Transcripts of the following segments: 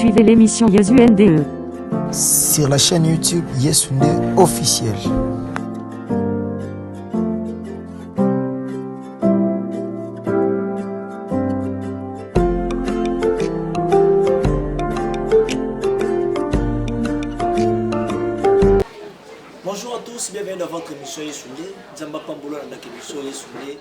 Suivez l'émission Yesu NDE. Sur la chaîne YouTube Yesu NDE officiel. Bonjour à tous, bienvenue dans votre émission Yesu NDE. Nzamba Pambola, dans l'émission Yesu NDE.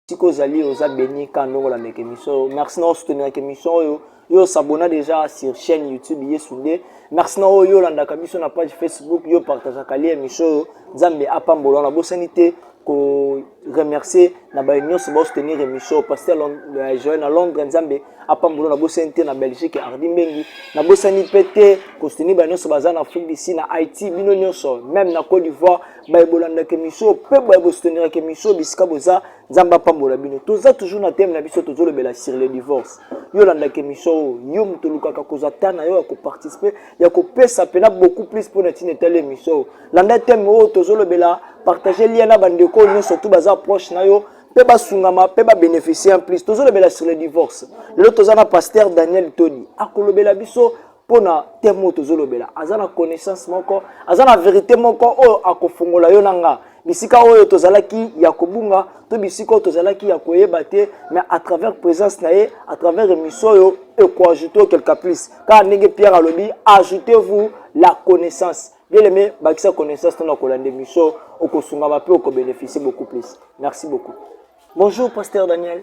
esika ozali oza beni ka ndongo la meke mission oyo merci na osutenirake mission oyo yo osabona déjà sur chaîne youtube yesu nde merci na oyo yo olandaka biso na page facebook yo partageaka lie mission oyo nzambe apambola wana bosani te koremercier na baye nyonso baosoutenir émission paster euh, joel na londres nzambe apambola nabosani te na belgique ardi mbengi nabosani mpe te kosoutenir baye nyonso baza na afrique d'ici na haïti bino nyonso meme na côte d'ivoire baye bolandaka emission mpe baye bosuteniraka emission bisika boza nzambe apambola bino toza toujours na teme na biso tozolobela sur le divorce yo olandaka emission oyo yo moto olukaka kozwa ta na yo ya koparticipe ya kopesa mpena beaucoup plus mpo na ntina etali emission oyo landa teme oyo tozolobela partage lia na bandeko oyo nyonso tu baza approche na yo mpe basungama mpe babénéficie en plus tozolobela sur le divorce lelo toza na pasteur daniel todi akolobela biso mpo na teme oyo tozolobela aza na connaissance moko aza na verite moko oyo akofongola yo na nga bisika oyo tozalaki ya kobunga to bisika oyo tozalaki ya koyeba te mais à travers présence na ye à travers émission oyo ekoajoute quelque plus kaka ndenge pierre alobi ajoutez vous la connaissance bien aimé bakisa connaissance ntona kolanda émission okosungama mpe okobénéficie beaucoup plus merci beaucoup bonjour pasteur daniel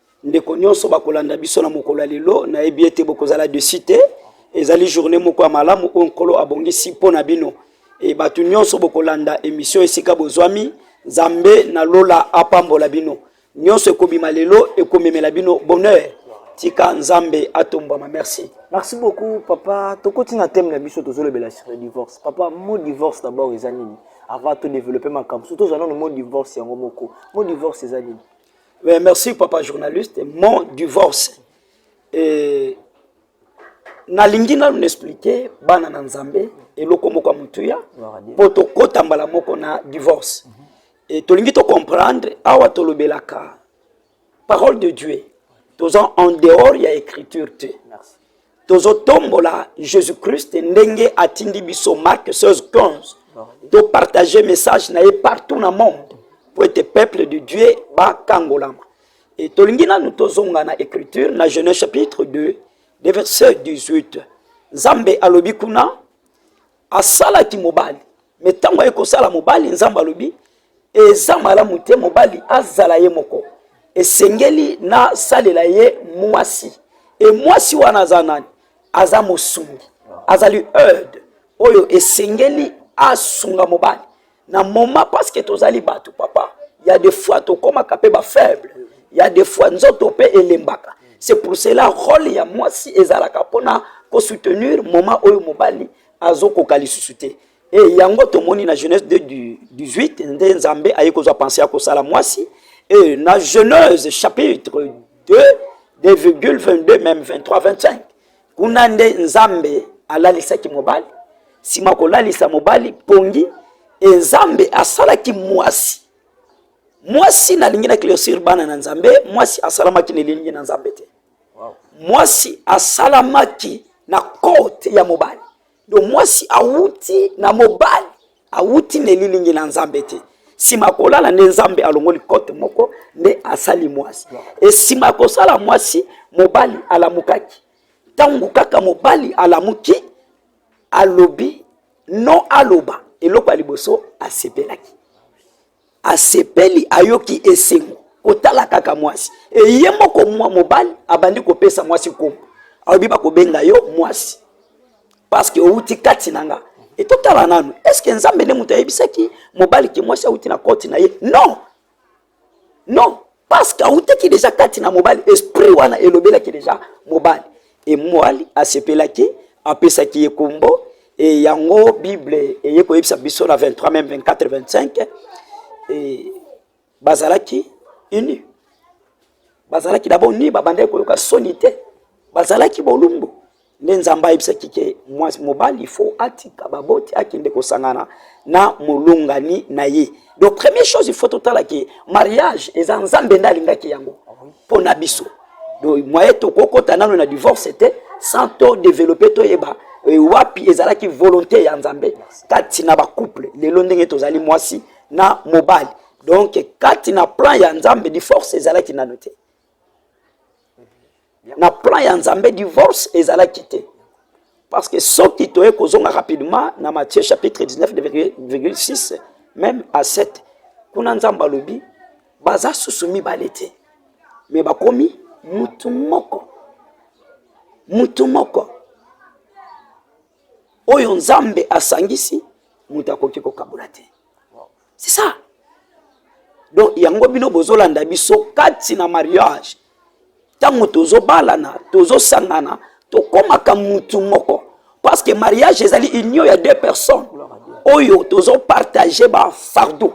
ndeko nyonso bakolanda biso na mokolo ya lelo nayebi ete bokozala desi te ezali journée moko ya malamu oyo nkolo abongisi mpo na bino e bato nyonso bokolanda emission esika bozwami nzambe na lola apambola bino nyonso ekobima lelo ekomemela bino bonheur tika nzambe atombwama merci merci beaucoup papa tokoti na teme na biso tozolobela sur le divorce papa mo divorce d'abord eza nini avant todéveloppe makambo surtout ozala nano mo divorce yango moko mo divorce eza nini Mais merci papa journaliste mon divorce et nalingi nanu naexplike bana na nzambe eloko moko ya motuya mpo tokota mbala moko na divorce mm -hmm. e tolingi tocomprendre awa tolobelaka parole de dieu toza en dehors ya écriture te Merci. tozotombola jésus christ ndenge atindi biso mark 16 15 topartage message na ye partout na monde mpo ete peuple de dieu bakangolama e tolingi nanu tozonga na écriture na genèse chapitre 2 de verset 18 nzambe alobi kuna asalaki mobali me ntango aye kosala mobali nzambe alobi eza malamu te mobali azala ye moko esengeli nasalela ye mwasi e mwasi wana aza nani aza mosungi azali erde oyo esengeli asunga mobali na moma parceke tozali bato papa ya de fois tokomaka mpe bafaible ya de fois nzoto mpe elembaka c'est pour cela role ya mwasi ezalaka mpona kosoutenir moma oyo mobali azokoka lisusu te e eh, yango tomoni na genèse 18 nde nzambe aye kozwa pense ya kosala mwasi e eh, na genèse chapitre 2 2,22 meme 23 25 kuna nde nzambe alalisaki mobali nsima kolalisa mobali pongi e nzambe asalaki mwasi mwasi nalingi na closure bana na nzambe mwasi asalamaki na elilingi na nzambe te mwasi asalamaki na korte ya mobali do mwasi awuti na mobali awuti na elilingi na nzambe te nsima ya kolala nde nzambe alongoli kote moko nde asali mwasi esima ya kosala mwasi mobali alamukaki ntango kaka mobali alamuki alobi no aloba eloko ya liboso asepelaki asepeli ayoki esengo kotala kaka mwasi eye moko mwa mobali abandi kopesa mwasi nkombo alobi bakobenga yo mwasi paske outi kati na nga etotala nanu eske nzambe nde moto ayebisaki mobali ke mwasi auti na koti na ye non non parce que autaki deja kati na mobali esprit wana elobelaki deja mobali e mwali asepelaki apesaki ye kombo e yango bible eye koyebisa biso na 23 meme 24 25 e bazalaki uni bazalaki dabord ni babandaki koyoka soni te bazalaki bolumbu nde nzambe ayebisaki ke mwasi mobali faut atika baboti akende kosangana na molongani na ye donc première chose il faut totala ke mariage eza nzambe nde alingaki yango mpo na biso donc moye tokokota nano na divorce te sans to développer toyeba e, wapi ezalaki volonté ya nzambe kati na bacouple lelo ndenge tozali mwasi na mobali donc kati na plan ya nzambe divorce ezalaki nano te na plan ya nzambe divorce ezalaki te parce que soki toye kozonga rapidement na matthieu chapitre 19,6 même à 7 kuna nzambe alobi baza susu mibale te me bakomi mutu moko mutu moko oyo nzambe asangisi moto akoki kokabola te c'est ça donc yango bino bozolanda biso kati na mariage ntango tozobalana tozosangana tokomaka mutu moko parce que mariage ezali union ya deux personnes oyo tozopartage bafardeau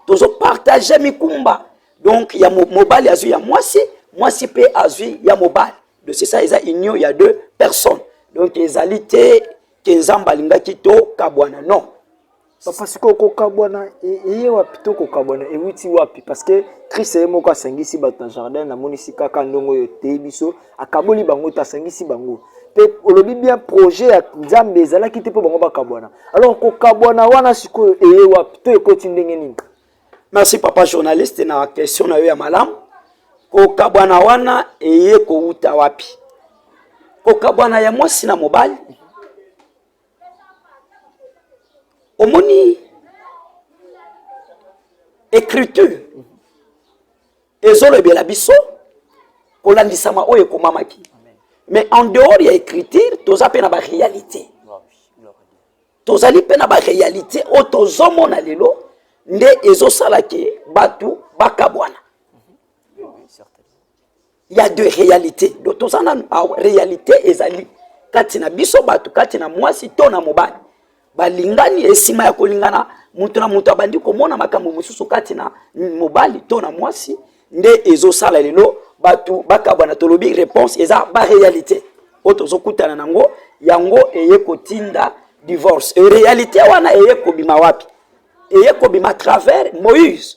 tozopartage mikumba donc ya mobali azwi ya mwasi mwasi mpe azwi ya mobali donc c'est ça eza union ya deux personnes donc ezali te ke nzambe alingaki tokabwana non Papa sikoyo kokabwana e- eye wapi to kokabwana ewiti wapi parce que christ ye moko asangisi bato na jardin namonisi kaka ndongo oyo etei biso akaboli bango te asangisi bango mpe olobi bien projet ya nzambe ezalaki te mpo bango bakabwana alors kokabwana wana sikoyo eye wapi to ekoti ndenge nini merci papa journaliste na question na yo ya malamu kokabwana wana eye kowuta wapi kokabwana ya mwasi na mobali omoni écriture ezolobela biso kolandisama oyo ekomamaki mais en dehors ya écriture toza mpe na baréalité tozali mpe na baréalité oyo tozomona lelo nde ezosala ke bato bakabwana il y a de réalité donc toza nanu ah, réalité ezali kati na biso bato kati na mwasi to na mobali balingani esima ya kolingana moto na moto abandi komona makambo mosusu kati na mobali to na mwasi nde ezosala lelo bato bakabwana tolobi réponse eza baréalité oyo tozokutana nango yango eye kotinda divorce réalité wana eye kobima wapi eye kobima travers moïse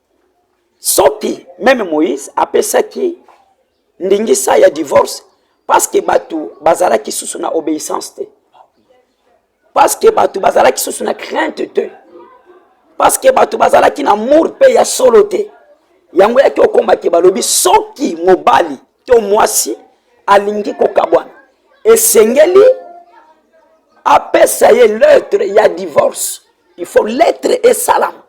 soki meme moïse apesaki ndingisa ya divorce parce que bato bazalaki susu na obéissance te parce que bato bazalaki susu na crainte te parce que bato bazalaki na amour mpe ya solo te yango yaki okomaki balobi soki mobali to mwasi alingi kokabwana esengeli apesa ye lettre ya divorce il faut lettre esalama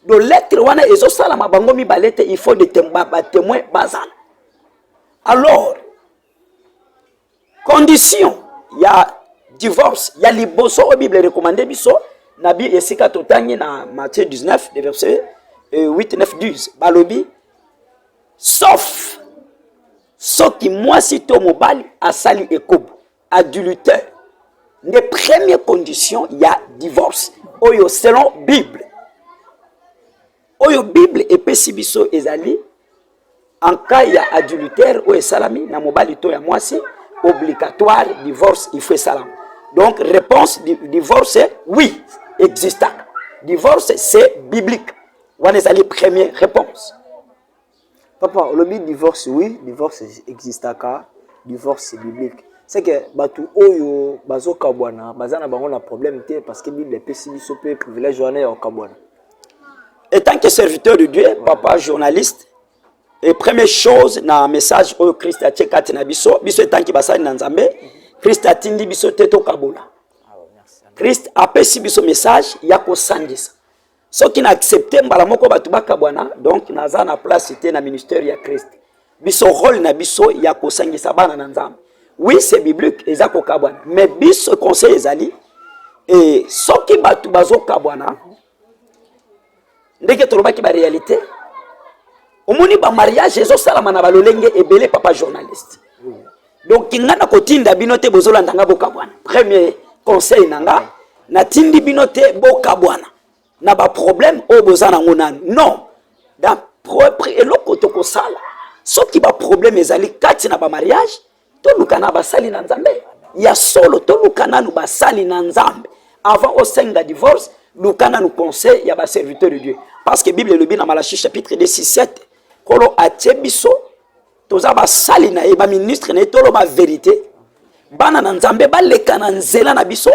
do lettre wana ezosalama bango mibale te il faut batemoin bazala alors condition ya divorce ya liboso oyo bible recommande biso na bi esika totangi na matthieu 19 de verset 8 9 10 balobi sauf soki mwasi to mobali asali ekobo adultère nde premier condition ya divorce oyo selon bible oyo bible epesi biso ezali en cas ya adultère oyo esalami na mobali to ya mwasi obligatoire divorce il faut esalama donc réponse di, divorce oui existaka divorce c'est biblique wana ezali première réponse Papa, olobi divorce, oui, divorce existaka, divorce biblique. C'est que batu oyo bazo kabwana, baza na bango na problème te parce que Bible epesi biso pe privilège wana ya kabwana. Et tant que serviteur de Dieu, papa journaliste, et première chose na message oyo Christ atie kati na biso, biso etanki basali na Nzambe, Christ atindi biso te tokabola. Christ apesi biso message ya kosangisa. soki na accepte mbala moko bato bakabwana donc naza na place te na ministère ya christ biso role na biso ya kosangisa bana na nzambe oui c'est biblique eza kokabwana mais biso conseil ezali e soki bato bazokabwana ndenge tolobaki baréalité omoni bamariage ezosalama na balolenge ebele papa journaliste donc nga nakotinda bino te bozolanda nga bokabwana premier conseil na nga natindi bino te bokabwana na baproblème oyo boza nango nanu non eloko tokosala soki baproblème ezali kati na bamariage toluka na basali na nzambe ya solo toluka nanu basali na nzambe avant osenga divorce luka nanu conseil ya baserviteur de dieu parce que bible elobi na malachi chapitre 2 6 7 nkolo atie biso toza basali na ye baministre na ye toloba verite bana na nzambe baleka na nzela na biso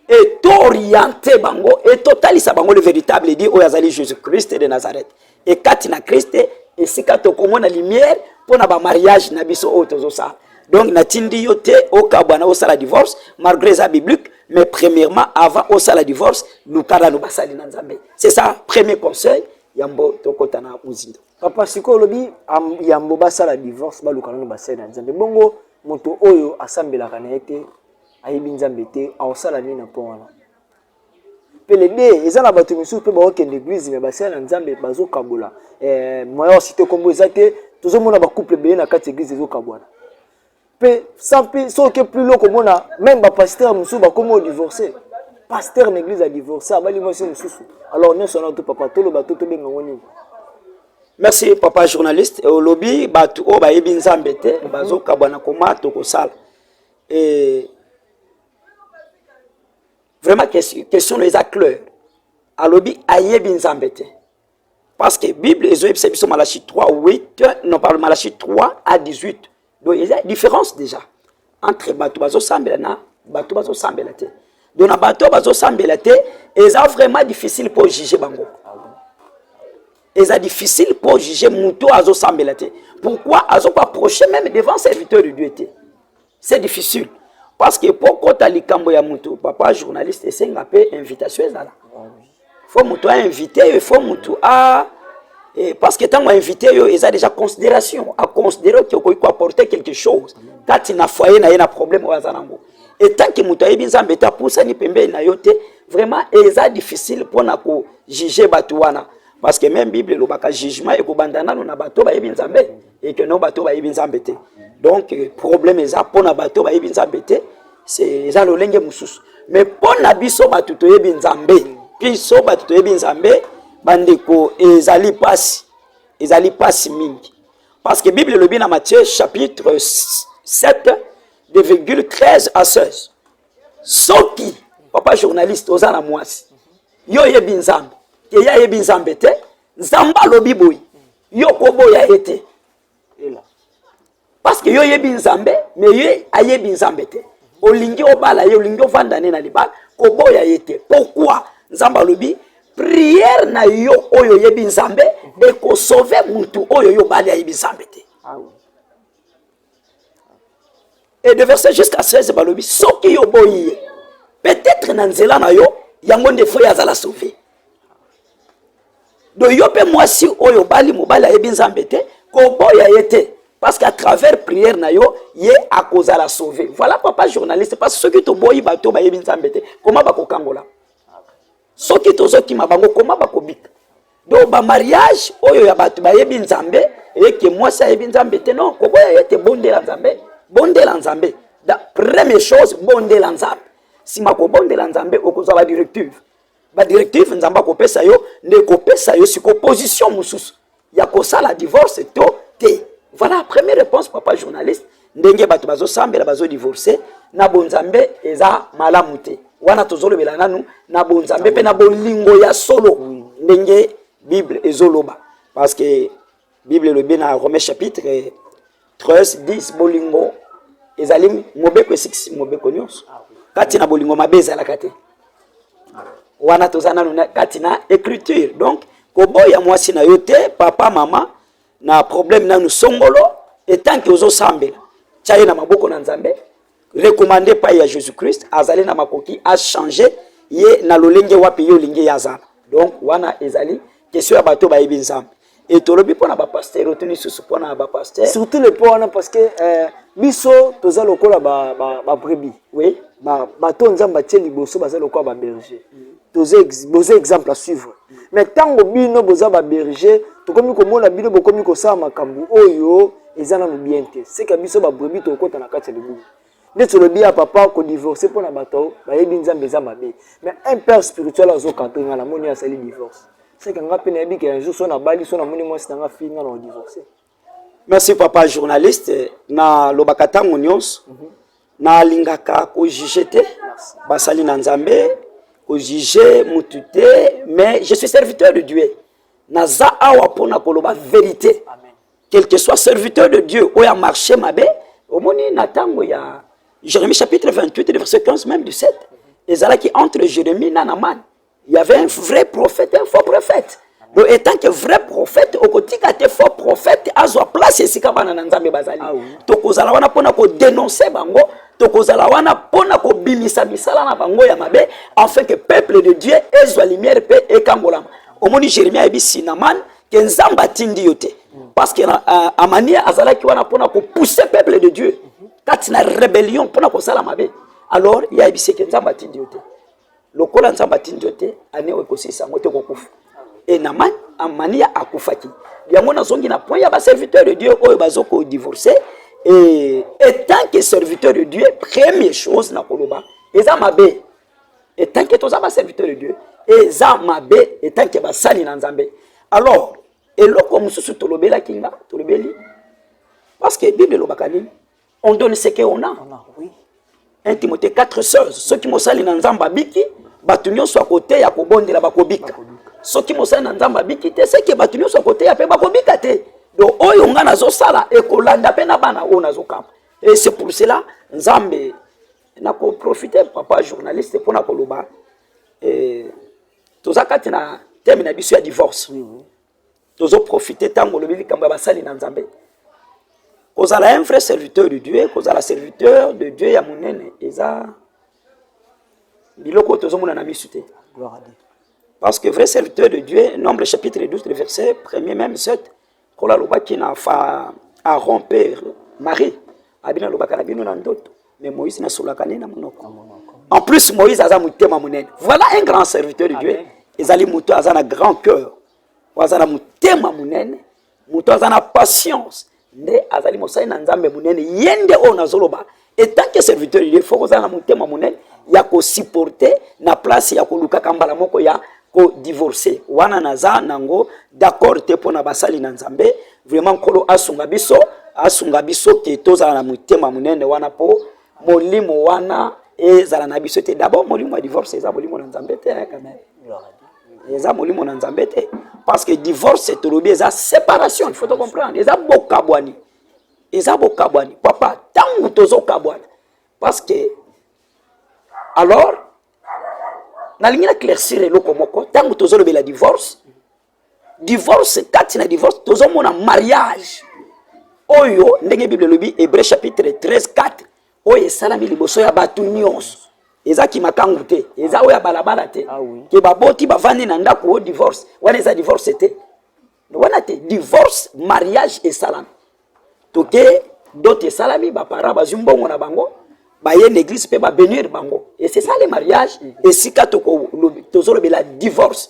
e tooriente bango e totalisa bango le véritable edi oyo azali jésus christ de nazareth e kati na christ esika tokomona lumière mpo na bamariage na biso oyo tozosala donc natindi yo te okabwana osala divorce malgré eza biblique mais premièrement avant osala divorce luka nano basali na nzambe c'est ça premier conseil yambo tokota na mozindo papa sikoyo olobi yambo basala divorce baluka nano basali na nzambe bongo moto oyo asambelaka na ye te ayebi nzambe te aosala nini na mpo wana pelede eza na bato mosusu mpe baokende eglize me basali na nzambe bazokabola eh, moya ya site nkombo eza te tozomona bacouple ebele na kati ya eglize ezokabwana mpe sans mpe soki oke plus loko omona meme bapasteur mosusu bakomi odivorce pasteur na église adivorce abali mwasi mosusu alors nyonso wana to papa toloba to tobenga yango nini merci papa journaliste eh, olobi bato oyo bayebi nzambe te mhm. bazokabwana koma tokosala eh, vraiment question oyo eza claire alobi ayebi nzambe te Parce que Bible ezo yebisa biso Malachie 3 8 non pardon Malachie 3 à 18. Donc il y a différence déjà entre bato bazo sambela na bato bazo sambela te. Donc na bato bazo sambela te eza vraiment difficile pour juger bango. Eza difficile pour juger muto azo sambela te. Pourquoi azo pas approcher même devant serviteur de Dieu te. c'est difficile parce que mpo kota likambo ya moto papa journaliste esenga mpe invitation ezala fo moto ainvite yo fo moto a eh, parce que ntango ainvite yo eza déjà considération aconsidere oke okoki koapporte quelque chose kati na foyer na ye na problème oyo aza nango etanke moto ayebi nzambe te apusani pembeni na yo te vraiment eza difficile mpo na kojuge bato wana parce que même bible elobaka jugement ekobanda nano na bato bayebi nzambe et que non bato bayebi nzambe te donc euh, problème eza mpo na bato bayebi nzambe te eza lolenge mosusu mais mpo na biso bato toyebi nzambe biso bato toyebi nzambe bandeko ezali mpasi ezali mpasi mingi parce que bible elobi na matthieu chapitre 7 de virgule 13 à 16 soki papa journaliste oza na mwasi yo oyebi nzambe ke ye ayebi nzambe te nzambe alobi boye yo koboya ye te parceke yo oyebi nzambe me ye ayebi nzambe te olingi obala ye olingi ovanda ne na libala koboya ye te pourkui nzambe alobi priere na yo oyo oyebi nzambe ekosove motu oyo yo obali ayebi nzambe te ah et de verset jusqu'à 16 balobi soki yo boyi ye peut-être na nzela na yo yango nde fo ye azala sauve do yo mpe mwasi oyo obali mobali ayebi nzambe te koboya ye te parce qu'à travers prière na yo ye akozala sauve voilà papa journaliste parce soki toboyi bato bayebi nzambe te koma bakokangola soki tozokima bango koma bakobika do bamariage oyo ya bato bayebi nzambe eyeke mwasi ayebi nzambe te non koboya ye te bondela nzambe bondela nzambe da première chose bondela nzambe nsima kobondela nzambe okozwa badirective badirective nzambe akopesa yo nde ekopesa yo siko position mosusu ya kosala divorce to te voilà première réponse papa journaliste ndenge bato bazosambela bazodivorce na bonzambe eza malamu te wana tozolobela nanu na bonzambe mpe na bolingo ya solo ndenge bible ezoloba parce que bible elobi na romain chapitre Tres dis bolingo ezali mobeko esikisi mobeko nyonso kati na bolingo mabe ezalaka te wana toza nanu kati na écriture donc koboya mwasi na yo te papa mama na problème nanu songolo etanke ozosambela tya ye na maboko na nzambe recommande epai ya jesus christ azali na makoki achange ye na lolenge wapi yo olingi ye azala donc wana ezali question ya bato bayebi nzambe e tolobi mpo na bapaster oyo to lisusu mpo na bapaster surtout le mpo wana parce que euh, biso toza lokola babrebi ba, ba oui. bato ba nzambe atie liboso baza lokola baberger mm. toza boza exemple à suivre mais ntango bino boza baberger tokomi komona bino bokomi kosala makambo oyo eza nanu bien te seka biso babrebi tokokota na kati ya libumu nde tolobi ya papa kodivorce mpo na bato bayebi nzambe eza mabe mais un père spirituel azokadre ngai namoni asali divorce seka ngai mpe nayebi ke un jour so nabali so namoni mwasi na ngai fii ngai na odivorce merci papa journaliste na lobaka ntango nyonso mm -hmm. nalingaka kojuge te basali na nzambe kojuge mutu te mais je suis serviteur de dieu naza awa mpo na koloba verité quel que soit serviteur de dieu oyo amarche mabe omoni na ntango ya jérémie chapitre 28 verset 15 même 17 mhm. ezalaki entre jérémie na namane Il y avait un vrai prophète, un faux prophète. Donc, étant que vrai prophète, okotika te faux prophète azwa place esika bana na Nzambe bazali. Ah Tokozala wana pona ko dénoncer bango, tokozala wana pona ko bimisa misala na bango ya mabe, afin que peuple de Dieu ezwa lumière pe ekangolama. Omoni Jérémie ayebi Sinaman que Nzambe atindi yo te. Parce que uh, Amania azalaki wana pona ko pousser peuple de Dieu kati na rébellion pona kosala mabe. Alors, il y a ebiseke Nzambe atindi yo te. lokola nzambe atindi yo te ane oyo ekosilisa yango te okokufa e naman amania akufaki yango nazongi na point ya baserviteur de dieu oyo bazokodivorce e etant que serviteur de dieu premier chose na koloba eza mabe etant que toza baserviteur de dieu eza mabe etant que basali na nzambe alors eloko mosusu tolobelaki nga tolobeli parce que bible elobaka nini on donne ce que on a on a oui 1 Timothée 4 16 soki mosali na Nzambe abiki bato nyonso ya koteya kobondela bakobika soki mosali na Nzambe abiki te seke bato nyonso ya koteya mpe bakobika te donc oyo ngai nazosala ekolanda mpe na bana oyo nazokamba et c'est pour cela Nzambe nakoprofite papa journaliste mpo na koloba eh, toza kati na teme na biso ya divorce mm -hmm. tozo profite ntango olobi likambo ya basali na nzambe kozala un vrai serviteur de dieu kozala serviteur de dieu ya monene eza biloko oyo tozomona na misu te parce que vrai serviteur de dieu nombre chapitre 12 le verset premier même 7 nkolo alobaki na fa aron mpe marie abino alobaka na bino na ndoto mais moïse nasolaka nde na monoko en plus moïse aza motema monene voilà un grand serviteur de dieu ezali moto aza na grand cœur oyo aza na motema monene moto aza na patience nde azali mosali na nzambe monene ye nde oyo nazoloba etanke serviteur ye fo kozala na motema monene ya kosupporte na place ya kolukaka mbala moko ya kodivorce wana naza nango d'accord te mpo na basali na nzambe vraiment nkolo asunga biso asunga biso ke tozala na motema monene wana mpo molimo wana ezala na biso te dabord molimo ya divorce eza molimo na nzambe te eh, quand même eza molimo na nzambe te parce que divorce tolobi eza séparation il faut tocomprendre eza bokabwani eza bokabwani papa ntango tozokabwana parce que alors nalingi na claircir eloko moko ntango tozolobela divorce divorce kati na divorce tozomona mariage oyo ndenge bible elobi hébreu chapitre 13 4 oyo esalami liboso ya bato nyonso eza kimakangu te eza oyo ya balabala te ah ke baboti bavandi na ndako o divorce wana eza divorce te wana te divorce mariage esalami toke dot esalami baparent bazwi mbongo na bango baye na église mpe babenir bango esesali mariage esika tozolobela divorce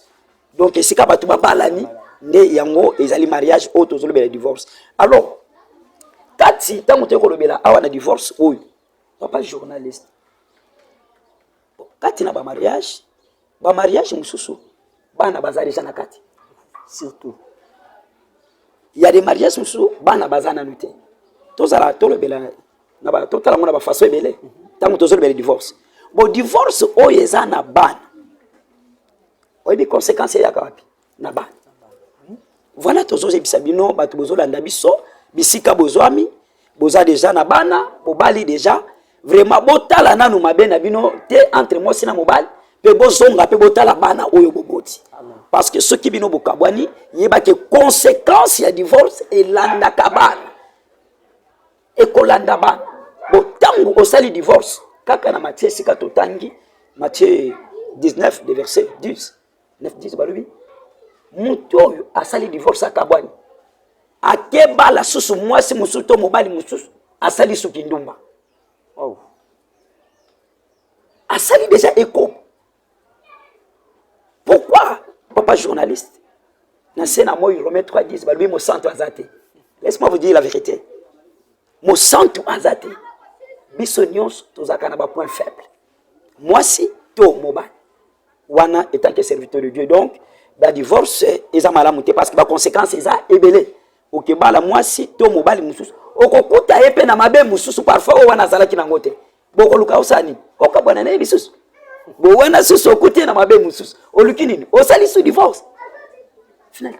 donc esika bato babalani nde yango ezali mariage oyo tozolobela divorce alors kati ntango toyei kolobela awa na divorce oyo papa journaliste kati na bamariage bamariage mosusu bana baza deja na kati surtout ya de mariage mosusu bana baza nanu te tozala tolobela totala yango na bafaso ebele ntango tozolobela divorce bo divorce oyo eza na bana oyebi conséquence eyaka wapi na bana voilà tozozebisa bino bato bozolanda biso bisika bozwami boza deja na bana bobali deja vraiment botala nanu mabe na bino te entre mwasi na mobali mpe bozonga mpe botala bana oyo boboti parce que soki bino bokabwani yebake conséquence ya divorce elandaka bana ekolanda ba bo tangu osali divorce kaka na matie esika totangi matie 19 de verset 10 9 10 balobi moto oyo asali divorce akabwani akebala susu mwasi mosusu to mobali mosusu asali suki ndumba oh. asali deja ekobo pourquoi papa journaliste na se na moi romain 3 10 balobi mosantu aza te laisse moi vous dire la vérité mosantu aza te biso nyonso tozalaka na bapoint faible mwasi to mobali wana etake serviteur de dieu donc badivorce eza malamu te parce que baconséquence eza ebele okebala mwasi to mobali mosusu okokuta ye mpe na mabe mosusu parfois oyo wana azalaki nango te bokoluka osala nini okabwana na ye lisusu bo wana susu okuti ye na mabe mosusu oluki nini osali su divorce final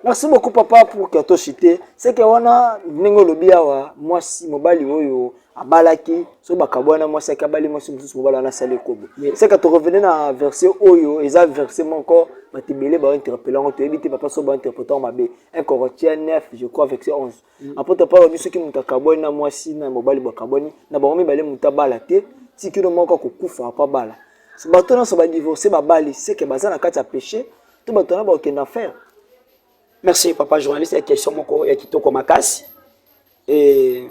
merci beaucoup papa pour katoshite seke wana ndenge olobi awa mwasi mobali oyo abalaki soki bakabwana mwasi yaki abali mwasi mosusu mobali wana asali ekobo seke torevene na verse oyo eza verse moko bato ebele bainterpele yango toyebi te papa so bainterprete yango mabe un corintien 9 je crois verse 11 apôtre Paul alobi soki moto akabwani na mwasi na mobali bakabwani na bango mibale moto abala te tikino moko akokufa apo abala bato nyonso badivorce babali seke baza na kati ya péché to bato wana bakokenda faire merci papa journaliste ya question moko ya kitoko makasi e...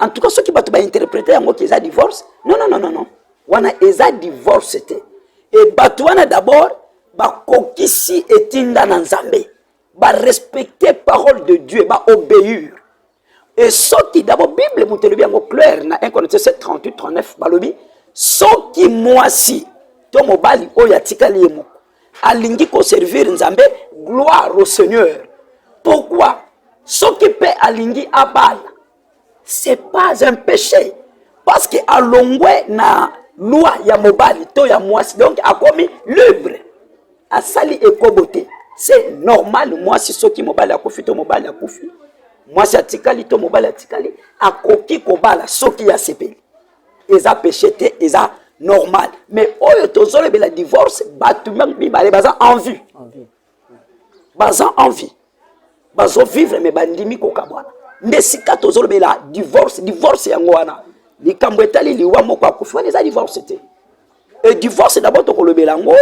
en tout cas soki bato bainterprete yango ke eza divorce non non non non wana eza divorce te e bato wana d'abord bakokisi etinda na nzambe barespecte parole de dieu baobéir e soki d'abord bible moto elobi yango claire na 1 corinthiens 7 38 39 balobi soki mwasi to mobali oyo atikali ye moko alingi ko servir Nzambe gloire au Seigneur pourquoi soki pe alingi abala c'est pas un péché parce que alongwe na loi ya mobali to ya mwasi donc akomi libre asali ekobo te c'est normal mwasi soki mobali akufi to mobali akufi mwasi atikali to mobali atikali akoki kobala soki asepeli eza peche te eza normal mais oyo tozolobela divorce bato mibale baza envie baza envie bazovivre me bandimi kokabwana nde sika tozolobela divorce divorce yango wana likambo etali liwa moko akufi wana eza divorce te e divorce dabord tokolobela yango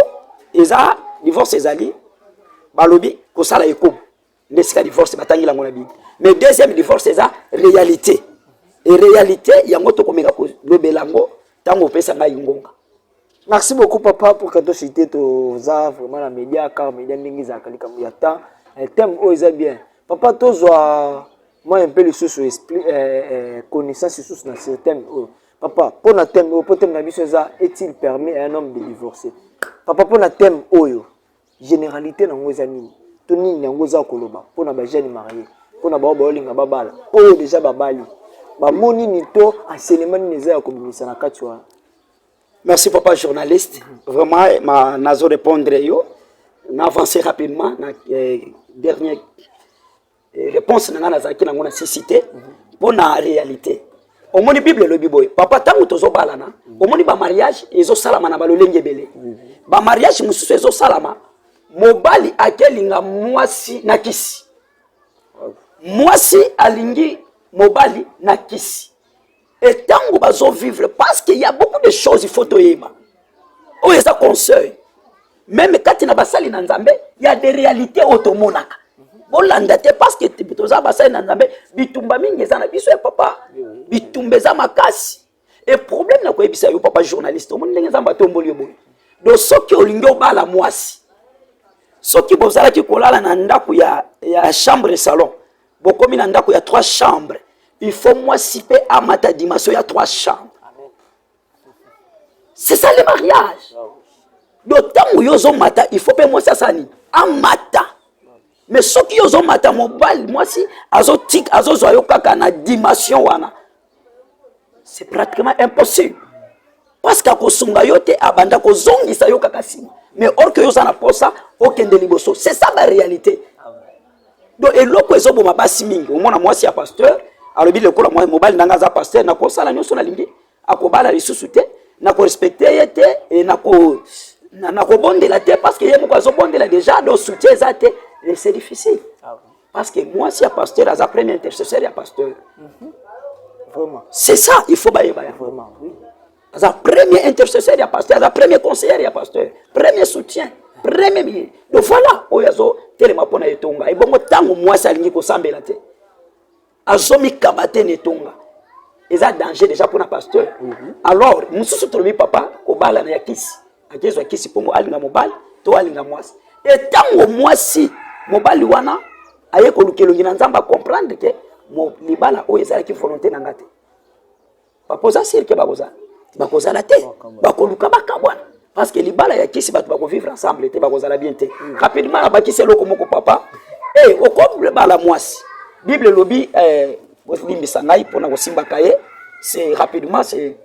eza divorce ezali balobi kosala ekobo nde sika divorce batangi lango na bible mais deuxième divorce eza réalité e réalité yango tokomeka kolobela yango ntango opesa ngai ngonga merci beaucoup papa pour kato cité toza vraiment na média car média ndenge ezalaka likambo ya temps eh, thème oyo eza bien papa tozwa mwa mpe lisusu eh, eh, connaissance lisusu na sur thème oyo papa mpo na thème oyo mpo thème na biso eza est-il permis un homme de divorcer papa mpo na thème oyo generalite nango eza nini to nini yango eza koloba mpo na bajeune marie mpo na bao baolinga babala oyo deja babali bamo nini to enseignement nini eza ya kobimisa na kati wana merci papa journaliste vraiment eh, ma, nazo répondre yo na avancer rapidement na eh, dernier Eh, réponse na ngai nazalaki nango na sisite mpo na réalité omoni bible elobi boye papa ntango tozobalana omoni bamariage ezosalama na balolenge ebele bamariage mosusu ezosalama mobali akelinga mwasi na kisi mwasi alingi mobali na kisi et tango bazo vivre parce qu'il y a beaucoup de choses il faut toyeba oyo oh, eza conseil meme kati na basali na nzambe ya de réalité oyo tomonaka bolanda te parce que toza basali na nzambe bitumba mingi eza na biso ya papa bitumba eza makasi e problème na koyebisa yo papa journaliste omoni ndenge nzambe atomboli yo boye do soki olingi obala mwasi soki bozalaki kolala na ndako ya, ya chambre salon bokomi na ndako ya trois chambre il faut mwasi mpe amata dimension ya trois chambre c'est ça le mariage do ntango yo ozomata il faut mpe mwasi asala nini amata mais soki yo ozomata mobali mwasi azozwa yo kaka na dimension wana c'est pratiquement impossible parce que akosunga yo te abanda kozongisa yo kaka nsima mais or que yo oza na posa okende liboso c'est ça ba réalité donc eloko ezoboma basi mingi omona mwasi ya pasteur alobi lokola mobali ndanga aza pasteur nakosala nyonso nalingi akobala lisusu te nakorespecte ye te e nako nakobondela te parce que ye moko azobondela déjà donc soutien eza te c'est difficile ah Parce que moi, si un pasteur, aza premier intercesseur, ya pasteur. Mhm. Vraiment. C'est ça, il faut bailler, bailler. Vraiment, oui. Aza premier intercesseur, ya pasteur, aza premier conseiller, ya pasteur, premier soutien, premier billet. Donc voilà, oyo azo telema pona etonga. Et bongo tango moi ça lingi ko sambela te. azomikaba te na etonga eza danger déjà mpona pasteur mhm. alors mosusu tolobi papa kobalana ya kisi akezwa kisi mpongo alinga mobali to alinga mwasi etango mwasi mobali wana aye koluka elongi na nzambe acomprendre ke libala oyo ezalaki volonté na nga te papa oza sire ke bakozala bakozala te bakoluka bakabwana parce que libala ya kisi bato bakovivre ensemble te bakozala bien te mm. rapidement nabakisi eloko moko papa e eh, okoble bala mwasi bible elobi eh, bolimbisa ngai mpo na kosimbaka ye c'est rapidement c'est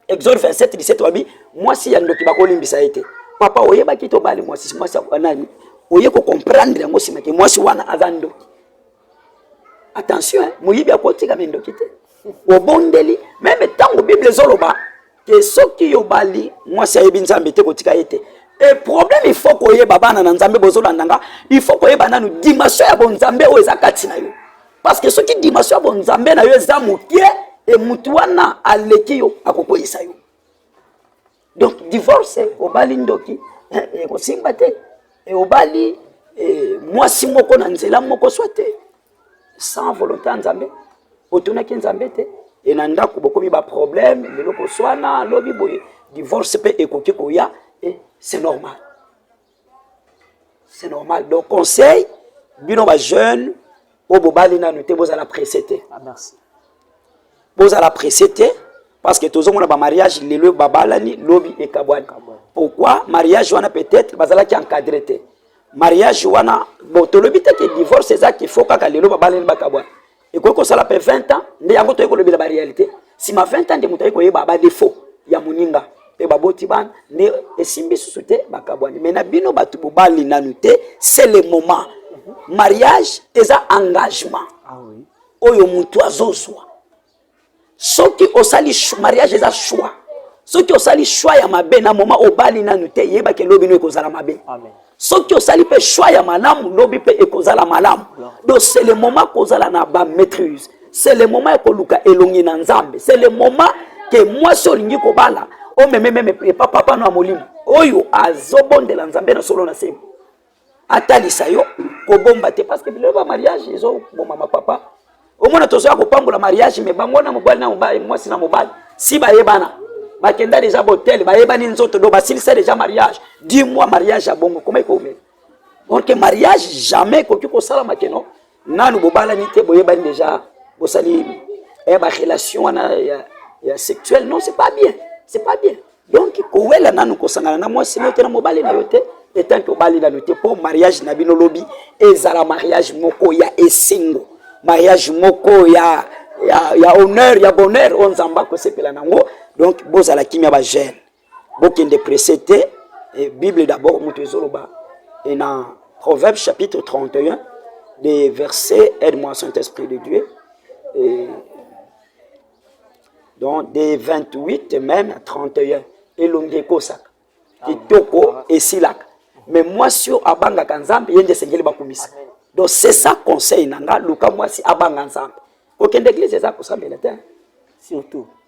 exode 27 17 wabi mwasi ya ndoki bakolimbisa ye te papa oyebaki te obali mwasi mwasi ya nani oye kocomprendre yango nsima ke mwasi wana aza ndoki attention hein, moyibi akotika mindoki te obondeli meme ntango bible ezoloba ke soki yobali mwasi ayebi nzambe te kotika ye te e problème il faut koyeba bana na nzambe bozolanda nga il faut koyeba nanu dimension ya bonzambe oyo eza kati na yo parce que soki dimension ya bonzambe na yo eza moke e motu wana aleki yo akokweyisa yo donc divorce obali ndoki ekosimba eh, eh, te eh, obali mwasi moko na nzela moko swa te sans volonté ya nzambe otunaki nzambe te e na ndako bokomi baproblème lelo koswana lobi boye divorce mpe ekoki koya c'est normal c'est normal donc conseil bino ba jeune oyo bobali nanu te bozala presse te ah, bozala presse te parce que tozomona bamariage lelo babalani lobi ekabwani pourquoi mariage wana peut-être bazalaki encadre te mariage wana bon tolobi te ke divorce eza kifo kaka lelo babalani bakabwani ekoki kosala pe 20 ans nde yango toyei kolobela ba réalité nsima 20 ans nde moto ayei koyeba ba défaut ya moninga mpe baboti bana nde esimbi susu te bakabwani mai na bino bato bobali nanu te c'est le moment mariage eza engagement ah oyo motu azozwa soki osali mariage eza choix soki osali choix ya mabe na moma obali nanu te yeba ke lobi no ekozala mabe soki osali mpe choix ya malamu lobi mpe ekozala malamu donc c'est le moment kozala na ba maîtrise c'est le moment ya koluka elongi na nzambe c'est le moment ke mwasi olingi kobala omeme meme epa papa no ya molimo oyo azobondela nzambe na solo na sembo atalisa yo kobomba te parce que biloko ba mariage ezo boma ma papa omona tozoya kopambola mariage me bango na mobali na mobali mwasi na mobali si bayebana bakenda deja botel bayebani nzoto do basilisa deja mariage dis moi mariage ya bongo koma ekomela orke mariage jamais ekoki kosalama keno nanu bobalani te boyebani deja bosali eh, ba relation wana ya, ya sexuel non c'est pas bien c'est pas bien donc kowela nanu kosangana na mwasi nayo te na mobali na yo te etant que obali nanu te mpo mariage na bino lobi ezala mariage moko ya esengo mariage moko ya, ya, ya honneur ya bonheur oyo nzambe akosepela nango donc bozala kimia bagene bokende presse te e, bible d'abord moto ezoloba e na proverbe chapitre 31 de verset aide moi saint esprit de dieu e, donc de 28 même 31 elongi ekosaka kitoko esilaka me mwasi oyo abangaka nzambe ye nde esengeli bakumisa donc c'est ça conseil na nga luka mwasi abanga nzambe kokende eglise eza kosambela te surtout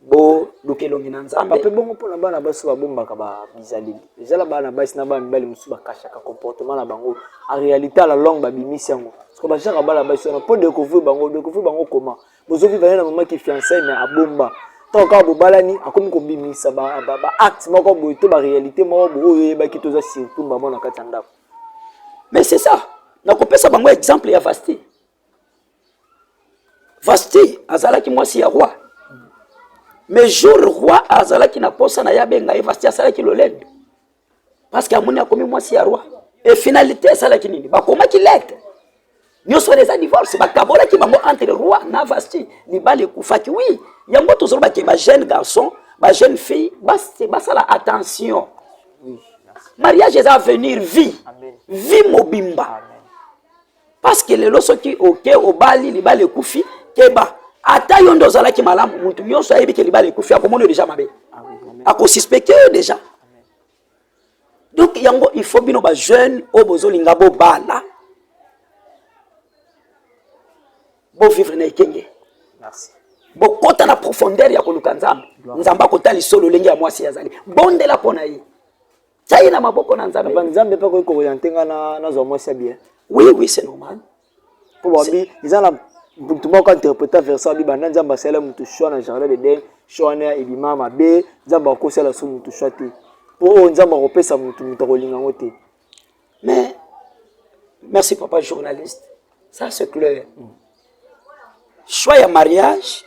boluka elongi na nzambe mpe bongo mpona bana basi babombaka bizaleli ezala bana basi na bana mibali mosusu bakashaka comportement na bango en réalité à la longue babimisi yango soko bajaka bana basi wana mpo découvrir bango découvrir bango comment bozoviva ye na mama ki fiancai mais abomba ntango kaka bobalani akomi kobimisa baacte moko boye to baréalité moko boye oyo oyebaki toza surtout mama na kati ya ndako mais c'est ça nakopesa bango exemple ya vaste Vasti azalaki mwasi ya roi mais jour roi azalaki na posa na ye abenga ye Vasti asalaki lolendo parce que amoni akomi mwasi ya roi e finalité esalaki nini bakomaki lete nyonso wana eza divorce bakabolaki bango entre roi na Vasti libala ekufaki oui yango tozoloba ke ba jeune garçon ba jeune fille basala attention mariage eza avenir vie vie mobimba Amen. parce que lelo soki oke obali libala ekufi keba ata yo nde ozalaki malamu mutu nyonso ayebi ke libala ekufi akomona yo deja mabe ah akosuspecte yo deja donc yango il faut bino bajeune oyo bozolinga bobala bovivre na ekenge bokota na profondeur ya koluka nzambe nzambe akotali so lolenge ya mwasi azali bondela mpo na ye tia ye na maboko na nzambe papa nzambe mpe akoki kooriente ngai nazwa mwasi ya bien oui oui c'est normal mpo babi eza na motu moko interpreta versa abi banda nzambe asala motu shwa na jardin d'eden shwa wana ebima mabe nzambe akosala so motu shwa te mpo oyo oh, nzambe akopesa motu motu akolinga yango te mais merci papa journaliste ça c'est clair mm. choix ya mariage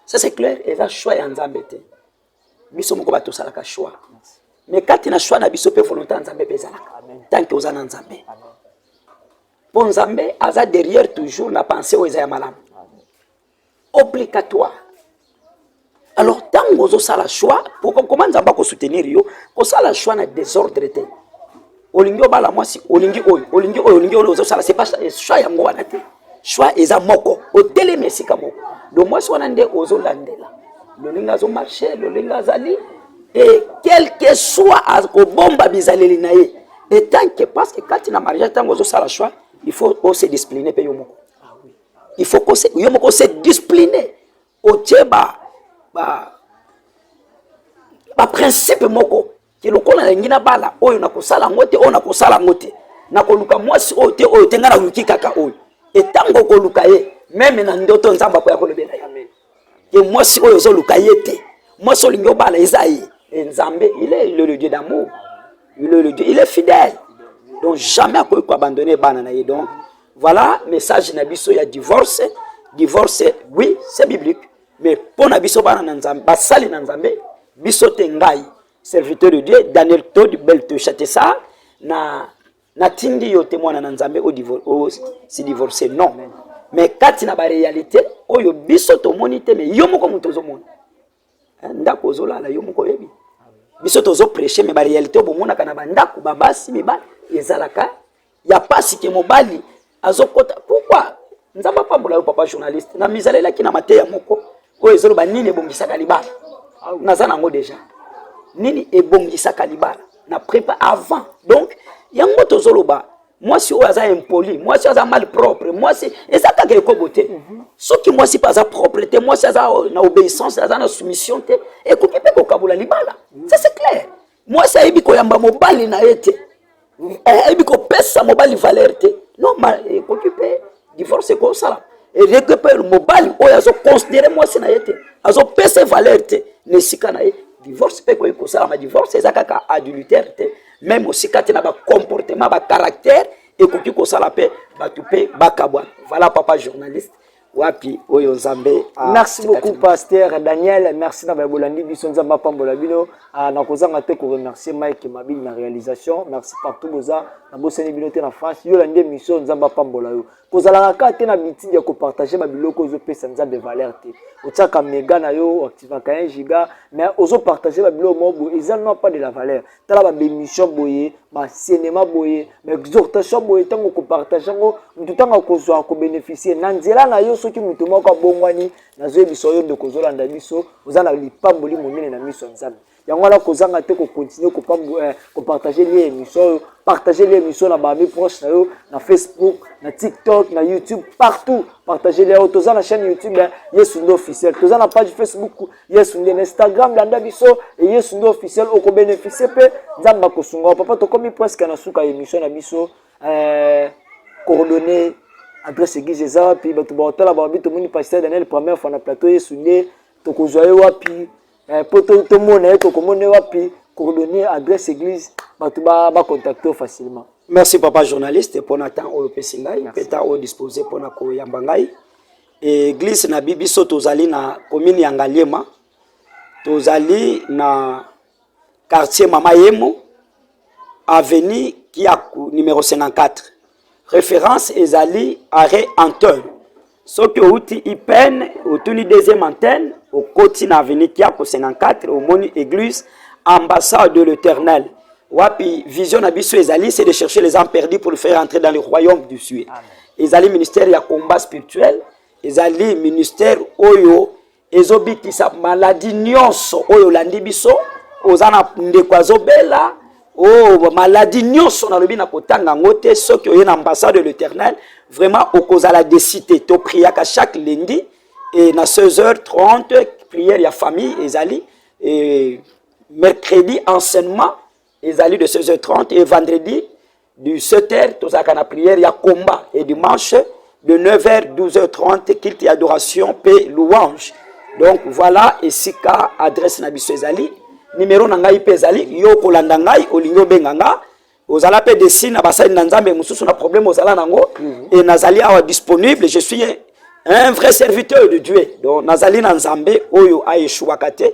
ça c'est clair eza choix ya nzambe te biso moko bato osalaka choix mais kati na choix na biso mpe volonté ya nzambe mpe ezalaka tanke oza na nzambe mpo nzambe aza derrière toujours na pensée oyo eza ya malamu obligatoire alors ntango ozosala choix pourkoma nzambe akosoutenir yo kosala choix na desordre te olingi obala mwasi olingi oyo olingi oyo olingi oyo ozosala c'est pas choix yango wana te choix eza moko otelemi esika moko do mwasi wana nde ozolandela lolinga azomarche lolinga azali e quelque soit akobomba bizaleli na ye etanke parce que kati na mariage ntango ozosala choix il faut ose discipline mpe yo moko il faut kose yo moko ose discipline otie ba ba baprincipe moko ke lokola nalingi nabala oyo nakosala yango te oyo nakosala yango te nakoluka mwasi oyo te oyo te ngai naluki kaka oyo etango okoluka ye meme na ndoto nzambe akoya kolobela ye ke mwasi oyo ozoluka ye te mwasi olingi obala eza ye e nzambe il est le dieu d'amour il est le dieu il est fidèle donc jamais akoki koabandonne bana na ye donc voilà message na biso ya divorce divorce oui c'est biblique mais mpo na biso bana na nzambe basali na nzambe biso te ngai serviteur de dieu daniel tod belteshatesa na natindi yo te mwana na nzambe osi divorce non mais kati na barealité oyo biso tomoni te mais yo moko moto ozomona eh, ndako ozolala yo moko oyebi biso tozopreche mais barealité oyo bomonaka na bandako babasi mibali ezalaka ya pasi ke mobali azokota pourquoi nzambe apambola yo papa journaliste na mizalelaki na mateya moko oyo ezoloba nini ebongisaka libala ah naza nango deja nini ebongisaka libala na prepa avant donc yango tozoloba mwasi oyo aza impoli mwasi aza mal propre mwasi eza kaka ekobo te mhm. soki mwasi mpe aza propre te mwasi aza na obéissance aza na soumission te ekoki mpe kokabola libala ça c'est clair mwasi ayebi koyamba mobali na ye te eh, ayebi kopesa mobali valeur te normal ekoki mpe divorce ekosala eleki mpe mobali oyo azoconsidere mwasi na ye te azopesa valeur te na esika na ye divorce mpe ekoki kosalama divorce eza kaka adultère te meme osika te na bacomportement bacaractère ekoki kosala mpe bato mpe bakabwana voilà papa journaliste wapi oyo nzambe ah, merci beaucoup pasteur daniel merci na baye bolandi biso nzambe apambola bino ah, nakozanga te koremercie mike mabili na réalisation merci partout boza nabosani bino te na france yo olandi émission nzambe apambola yo kozalaka kaka te na bitidi ya kopartage babiloko ozopesa nzambe valeur te otiaka mega na yo oactivaka 1 giga mais ozopartage babiloko moko boye eza non pas de la valeur tala ba bemission boye ba cinéma boye ba exhortation boye tango ko partager ngo mutu tango ko zwa ko bénéficier na nzela na yo soki mutu moko abongwani nazo yebisa yo ndeko zolanda biso oza na lipamboli monene na miso ya Nzambe yango wana kozanga te ko continuer ko pambo eh, ko partager lien émission oyo partager lien émission na ba amis proches na yo na Facebook na TikTok na YouTube partout partager lien oyo toza na chaîne YouTube eh, Yesu ndo officiel toza na page Facebook yesu nde na instagram landa biso e yesu nde officiel okobeneficie mpe nzambe akosunga papa tokomi presque na suka ya émission na biso eh, coordonne adresse église eza wapi bato baotala babi tomoni pasteur daniel première fois na plateau yesu nde tokozwa ye wapi eh, mpo tomona ye tokomona ye wapi coordonne adresse église bato bacontacte yo facilement merci papa journaliste mpona temps oyo opesi ngai mpe temps oyo dispose mpona koyamba ngai Eglise na biso tozali na commune ya Ngaliema, tozali na quartier Mama Yemo, avenue Kiaku numero 54. Reference ezali arrêt Anton. Soki outi IPN, otuni deuxième antenne, okoti na avenue Kiaku 54, omoni église ambassade de l'Éternel. Wapi vision na biso ezali, c'est de chercher les âmes perdues pour le faire entrer dans le royaume du ciel. ezali ministère ya combat spirituel ezali ministère oyo ezobikisa maladi nyonso oyo olandi biso oza na ndeko azobela o oh, maladi nyonso nalobi na kotanga yango te soki oye na ambassade de l'éternel vraiment okozala desi te topriaka chaque lundi e na 16h30 prière ya famille ezali e mercredi enseignement ezali de 16h30 et vendredi du 7h tozalaka na prière ya combat et dimanche de 9h 12h30 culte adoration pe louange donc voilà esika adresse na biso ezali nimero na ngai mpe ezali yo okolanda ngai olingi obenga nga ozala mpe desi na basali na nzambe mosusu na problème ozala nango mhm. e nazali awa disponible je suis un vrai serviteur de dieu donc nazali na nzambe oyo aeshuwaka te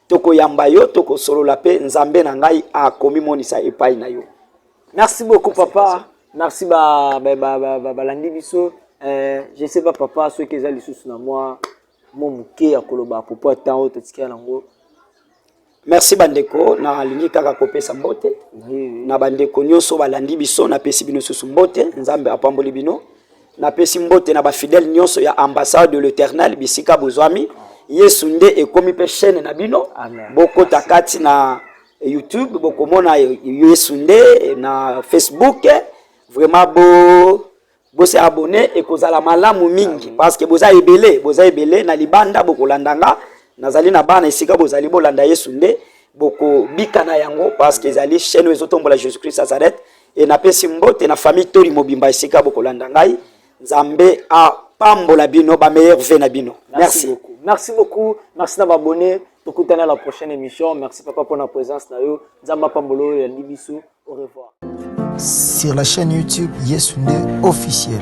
tokoyamba yo tokosolola mpe nzambe na ngai akomimonisa epai na yo merci beaucoup papa merci balandi ba, ba, ba, ba, biso eh, je sais pas papa soki eza lisusu na mwa mo moke ya koloba propos ya temps oyo totikela nango merci bandeko nalingi kaka kopesa mbote na bandeko nyonso balandi biso napesi bino susu mbote nzambe apamboli bino napesi mbote na bafidele nyonso ya ambassade de l'eternel bisika bozwami yesu nde ekomi mpe chaîne na bino bokota kati na youtube bokomona yesu nde na facebook vraiment bo bose abonne ekozala malamu mingi parce que boza ebele boza ebele na libanda bokolanda nga nazali na bana esika bozali bolanda yesu nde bokobika na yango parce que ezali chaîne oyo ezotombola jésus christ nazareth e napesi mbote na famille toli mobimba esika bokolanda ngai nzambe apambola bino ba meilleur ve na bino merci beaucoup merci beaucoup merci na babone tokutana la prochaine émission merci papa pour la présence na yo nzambe apambola oyo yandi biso au revoir sur la chaîne youtube yesu nde officiel